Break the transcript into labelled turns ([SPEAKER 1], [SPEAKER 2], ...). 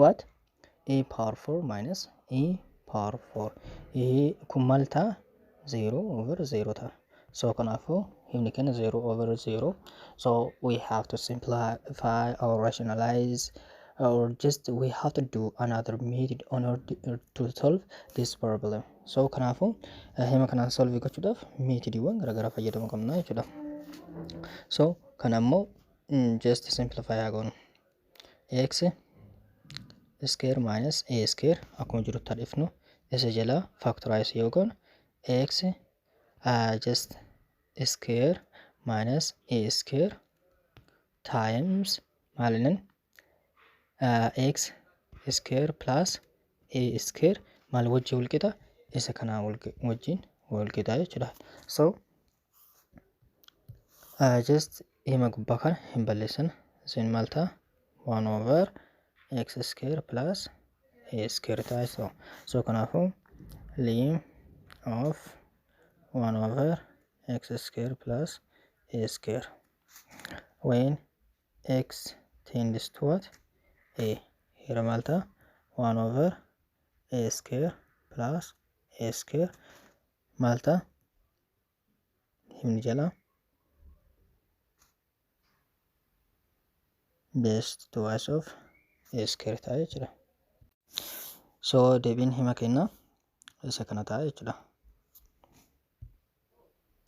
[SPEAKER 1] what a power 4 minus e power 4 ይሄ kun maal ta'a 0 over 0 ta'a so kanaafuu himni keenya 0 over 0 so we have to simplify or rationalize or just we have to do another method in order to solve this problem so kanaafuu eh, hima kanaan solve gochuudhaaf meetodiiwwan garaagaraa fayyadamuu qabna jechuudha so kana immoo mm, just simplify haa goonu x square minus a square akkuma jirutti haa dhifnu isa jala factorize yoo goonu x uh, just square minus a square times maalinin uh, x square plus a square maal wajjin walqixa isa kanaa wajjin walqixa jechuudha so just hima gubbaa kana hin balleessin isin maal ta'a 1 over x square plus a square ta'a so so kanaafuu lim of 1 over x square plus a square when x tends to what a here maal ta'a 1 over a square plus a square maal ta'a himni jala best twice of eskir ta'a jechuudha. So deebiin hima kennaa isa kana ta'a jechuudha.